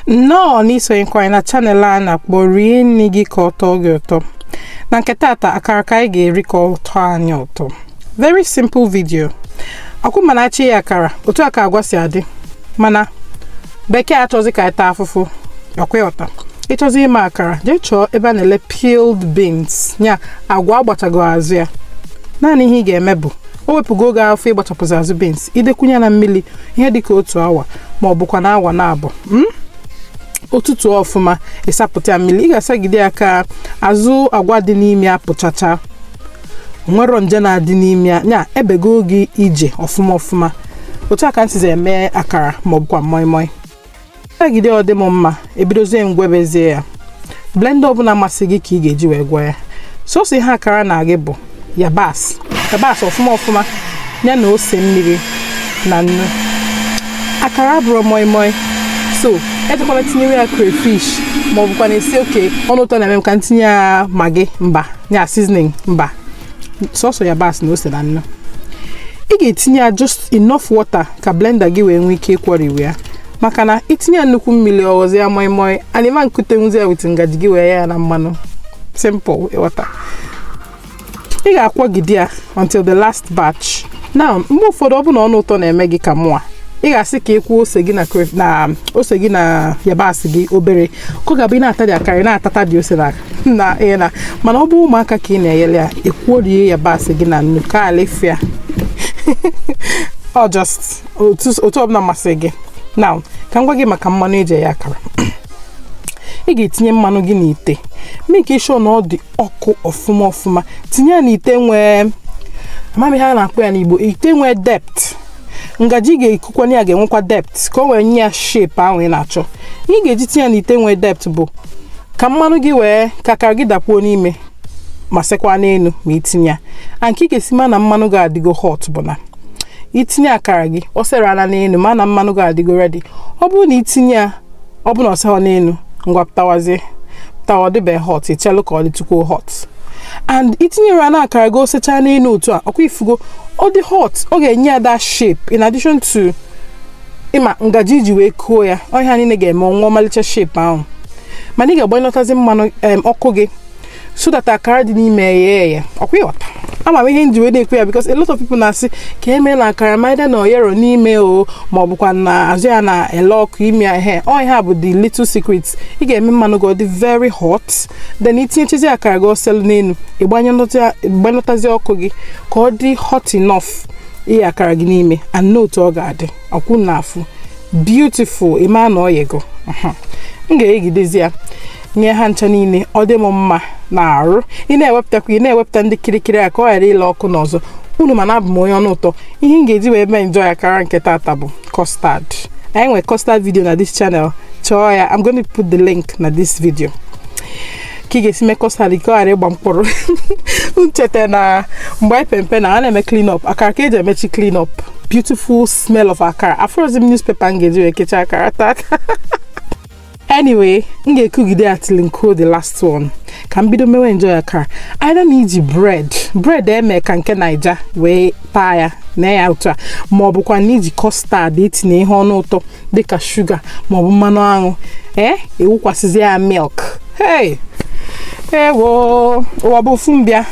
nnọọ n'isonyekwa anyị na channel a na-akpọ rie nri gị ka ọ tọọ gị ụtọ na nke tata akara ka anyị ga-eri ka ọ tọọ anyị ụtọ very simple video ọkwa ịma na a chọọ iye akara otu a ka agwa si adị mana bekee achọzi ka anyị taa afụfụ ọkwa ịghọta ịchọzi ime akara jee chọọ ebe a na-ele peeled beans ya agwa a gbachago azụ ya naanị ihe ị ga-eme bụ o wepụgo oge afụ ịgbachapụzi azụ beans i dekwunye ya na mmiri ihe dịka otu awa ma ọ bụkwa na awa naabọ o tutuo ọfụma ị sapụta ya mmiri ị ga-asagide ya ka azụ agwa dị n'ime ya pụchacha nwero nje na-adị n'ime ya ya ebego oge ije ọfụma ọfụma otu a ka m sizi eme akara ma ọ bụkwa moi moi agide ọ dị m mma e bidozie m gwebezie ya blender ọbụla masị gị ka ị ga-eji wee gwe ya sọsọ ihe akara na gị bụ yabasị yabasị ọfụma ọfụma ya na ose mmiri na nnu akara abụrọ moi moi so ejekwana tinyewe ya crayfish ma ọ bụkwa na ị sị okay ọnụ ụtọ na-eme m ka m tinye ya maggi mba ya seasoning mba sọsọ yabasị na ose na nnu ị ga-etinye ya just enough water ka blender gị wee nwee ike ịkwọriwe ya maka na i tinye ya nnukwu mmiri ọ ghọzi ya moi moi and ị ma nkutenwuzi ya with ngaji gị wee yee ya na mmanụ simple ịghọta ị ga-akwọgide ya until the last batch now mgbe ụfọdụ ọ bụ na ọnụ ụtọ na-eme gị ka mụa ị ga-asị ka ị kwọọ ose gị na ose gị na yabasị gị obere ka ọ ga-abụ ị na-ata the akara ị na-atata the ose na na ị na mana ọ bụ ụmụaka ka ị na-eyere ya ị kwọrie yabasị gị na nnu ka alifia ọ just otu otu ọbụla masịrị gị now ka m gwa gị maka mmanụ e ji eye akara ị ga-etinye mmanụ gị n'ite make sure na ọ dị ọkụ ọfụma ọfụma tinye ya n'ite nwee ama m ihe a na-akpọ ya n'igbo ite nwee depth ngaji ị ga-ekukwanye ya ga-enwekwa depth ka o wee nye ya shape ahụ ị na-achọ ihe ị ga-eji tinye ya n'ite nwee depth bụ ka mmanụ gị wee ka akara gị dakpuo n'ime ma sekwa n'elu ma i tinye ya a nke ị ga-esi ma na mmanụ gị adịgo hot bụ na i tinye akara gị o serela n'elu ma na mmanụ gị adịgo ready ọ bụrụ na i tinye ya ọ bụ na o seghọ n'elu ngwa pụtawazie pụtawa ọ dịbeghị hot i chelụ ka ọ dịtukwuo hot and i tinyere ya na akara gị o sechaa n'elu otu a ọkwa ị fụgo ọ dị hot ọ ga-enye ya that shape in addition to ịma ngaji i ji wee kuo ya ọ ha niile ga-eme o nwee ọmalịcha shape ahụ mana ị ga-agbanyụtazi mmanụ em, ọkụ gị so that akara dị n'ime ya eghe ọkwa ịghọta ama m ihe m ji wee na-ekwu ya because a lot of people na-asị ka e mee na akara m either na o yerọ n'ime o ma ọ bụkwa na azụ ya na-ele ọkụ ime ya ihe ọ ihe a bụ the little secret ị ga-eme mmanụ gị ọ dị very hot then i tinyechazi akara gị o selu n'elu ị gbanyụtazi ọkụ gị ka ọ dị hot enough iye akara gị n'ime and note ọ ga-adị ọkwa ị na-afụ beautiful ị ma na o yego m ga-eyegidezi ya yee ha ncha niile ọ dị m mma n'arụ ị na-ewepụtakwa ị na-ewepụta ndị kirikiri a ka ọ ghara ile ọkụ n'ọzọ unu ma na abụ m onye ọnụ ụtọ ihe m ga-eji wee mee enjoy akara nke tata bụ custard anyị nwere custard video na this channel chọọ ya I'm going to put the link na this video ka ị ga-esi mee custard ka ọ ghara ịgba mkpụrụ m cheta na mgbe anyị pe mpe na a na-eme clean up akara ka eji emechi clean up beautiful smell of akara afụrọzi m newspaper m ga-eji wee kechie akara tata anyway m ga-ekugide ya till m kuo the last one ka m bido mewe enjoy akara either na i ji bread bread eme ka nke naija wee taa ya na ya otu a ma ọ bụkwa na i ji custard i tinye ihe ọnụ ụtọ dịka sugar maọbụ mmanụ aṅụ ee i wukwasịzi ya milk hey ewo ụwa bụ ofu mbịa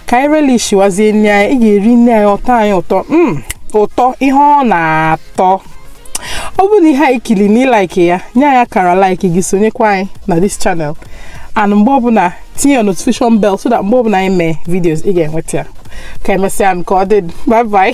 ka anyị relish wazie nne anyị ị ga-eri nne anyị ụtọ anyị ụtọ mm, ụtọ ihe ọ na-atọ tọọ ọ bụrụ na ihe anyị kili na ị like ya nye anyị akara like gị sonyekwa anyị na this channel and mgbe ọbụla tinye your notification bell so that mgbe ọbụla anyị mee videos ị ga-enweta ya ka emesịanụ ka ọ dị bye bye